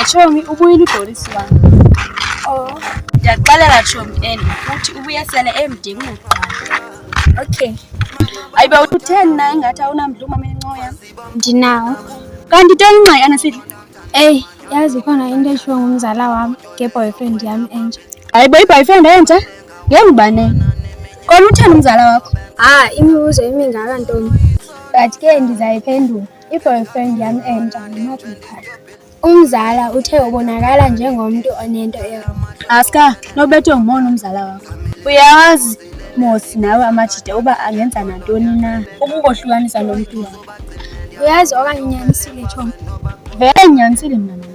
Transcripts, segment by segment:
Chomi ubuyile udolisi wami. Oh. Ndiyaxelela Chomi and futhi ubuyesele emdingi kuqala. Okay. Ayibe utheni na ingathi awunamdla umama encoya? Ndinawo. Kanti toni nxa yana sithi. Ey, yazi khona into eshiwo ngumzala wami nge-boyfriend yami entsha. Hayibo i-boyfriend entsha? Ngengubane. Kona uthanda umzala wakho? Ah, imibuzo emingaka ntombi. But ke ngizayiphendula. I-boyfriend yami entsha ngimaphi mkhaya. Umzala uthe ubonakala njengomuntu onento ewrong. Aska, nobethwe ngumona umzala wakho. Uyawazi Mosi nawe amajita uba angenza nantoni na ukukohlukanisa nomuntu wakho. Uyazi okanye unyanisile Chomi. Vele ngiyanisile mntanami.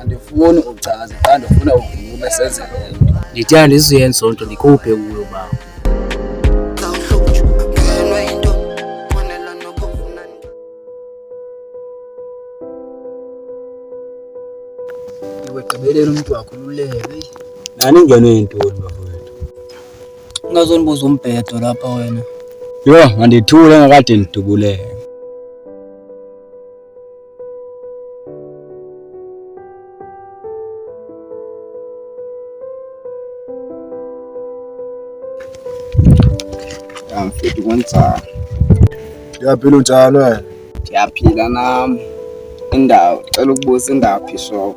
andifuni uchaze qha ndifuna uvume senze le nto ndithanda izuyenza onto ndikhuphe kuyo bawo wegqibelele umntu wakho ululeke nani ingeno yintoni bafowethu ungazonibuza umbhedo lapha wena yho mandithule ngakade ndidubuleke mfethu kwenzani? Ngiyaphila unjani wena? Ngiyaphila nami. Indawo, cela ukubuza indaphi shop.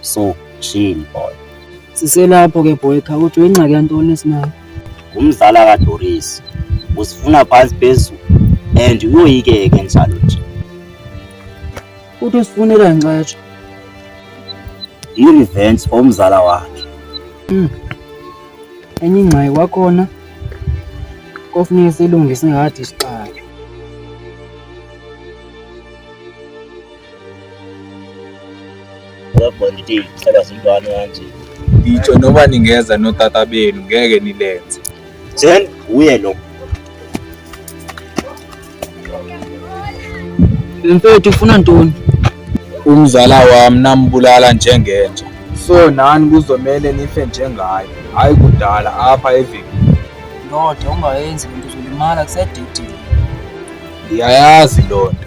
so chill boy siselapho ke boy kha uthi uyingxaki yantoni esinayo ngumzala kadoris usifuna phansi phezulu and uyoyikeke njalo nje uthi usifunela nxatsho i-revenge for umzala wakhe mm. enye ingxaki kwakhona kofuneka silungise ngathi isixaka ngitsho noma ningeza notata benu ngeke nilenze then uye lo mfethu ufuna ntoni umzala wami nambulala njengenja so nani kuzomele nife njengaye hhayi kudala apha evini ndoda ungayenzi lento uzolimala kusedidini ndiyayazi loo nto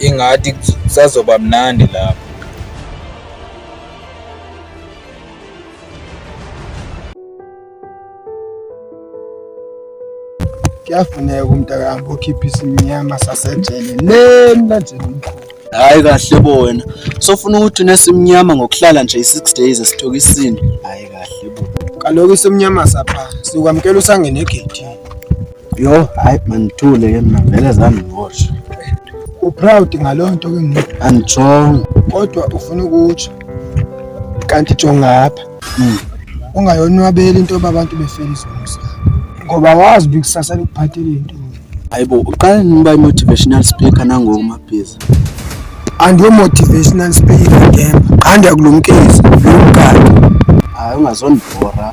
ingathi kusazoba mnandi lapho kuyafuneka umntakami bokhipha isimnyama sasejele le mlanjeni omkhulu hayi kahle bo wena sofuna ukuthi unesimnyama ngokuhlala nje i-six days esithoka isini hayi kahle bo kaloku isimnyama sapha sikwamukela usangene egethini Yo, hayi manithule ke mina vele zami ngosho. Uproud ngalonto ke mina. Angijongo. Kodwa ufuna ukuthi kanti jongapha. Mm. Ungayonwabeli into babantu befela izomusa. Ngoba wazi bikusasa likuphathele into. Hayibo, uqale niba motivational speaker nangoku mabhizi. Andiyo motivational speaker ngemba. Qanda kulumkezi, lomkati. Hayi ungazondibhora.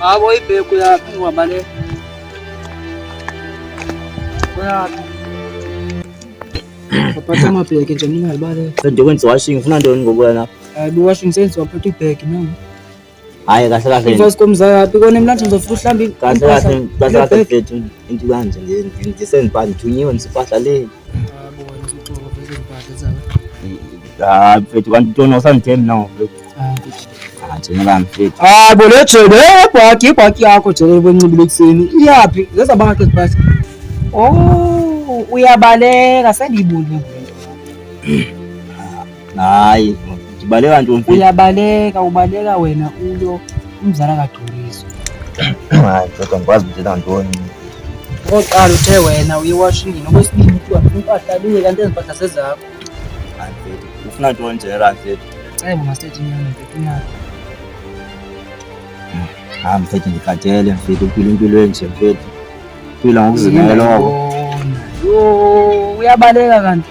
Abo ibhegu yaphi ngihamba le. Uyaphi? Waphatha amabheki nje mina ngibale. Kanti kwenziwa washing ufuna ntoni ngokuya lapho? Hayi, washing sense waphatha ibhegi nami. Hayi kahle kahle. Invoice komzakapi kona emlanjeni uzofika uhlambe kahle kahle kahle kahle mfethu into kanje nje ngisenzipani thunyiwe ngisipahla le. Ah mfethu kanti tona usangithembi nawo mfethu. Ah thina la mfethu. Ah bo le jele ibhaki ibhaki yakho jele kwencibile ekuseni iyaphi leza banga ke sipahla. Oh uyabaleka sendiyibulile. Hayi, ngibaleka ntombi. Uyabaleka, ubaleka wena uyo umzala kaDumiso. Hayi, kodwa ngikwazi ukuthi kantoni. Oqala uthe wena uye washingini okwesibili kuthiwa impahla luye kanti ezimpahla sezakho. Hayi, mfethu, ufuna ntoni nje la mfethu? Cebo masethi nyana mfethu nyana. Hayi mfethu ngikhathele mfethu uphila impilo enje mfethu. Phila ngokuzimela lokho. Yona. Yo, uyabaleka kanti.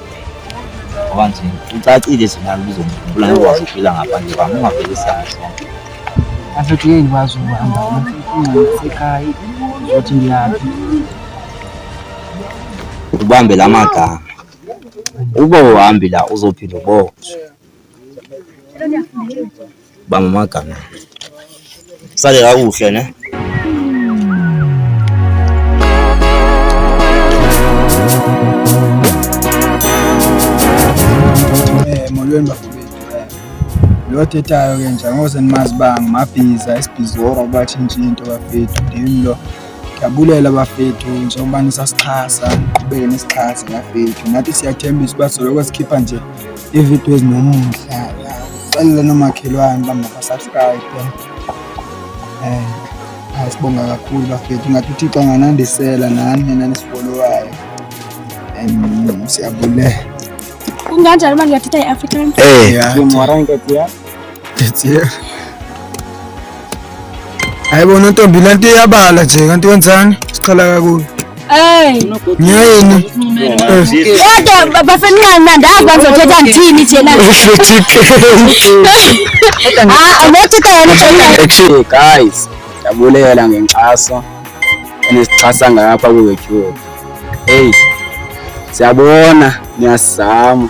ngoba nje ucacile nje nalo uzombula ngokwazi ukuphila ngaphandle kwami ungavele isiyalo sonke afethu yini kwazi ukuhamba ungasekhaya uzothi ngiyaphi ubambe la magama uba uhambi la uzophinde uboshwe Banga magama. Sale kakuhle ne? Eh, molweni bafo. lo othethayo ke nje angose nimazi uba ngumabhiza isibhizora uba tshintshe into bafethu ndim lo ndiyabulela bafethu njengoba nisasixhasa niqhubeke nisixhase bafethu nathi siyathembisa uba soloko sikhipha nje ividiyo ezinomuhle xelele nomakhelwane uba mabasubscribe um eh, hayi sibonga kakhulu bafethu ngathi uthixo anganandisela nani nina nisifolowayo um siyabulela kunganjani uma ngiyathetha i-african um hayi bona ntombi le nto iyabala nje kanti wenzani siqala kakuyo Ngiyini? Kodwa bafenqana ndazi bazothetha ngithini nje la. Ah, ngothetha yena tshela. Actually guys, yabulela ngenkxaso enisixhasa ngapha ku YouTube. Hey. Siyabona, niyasizama.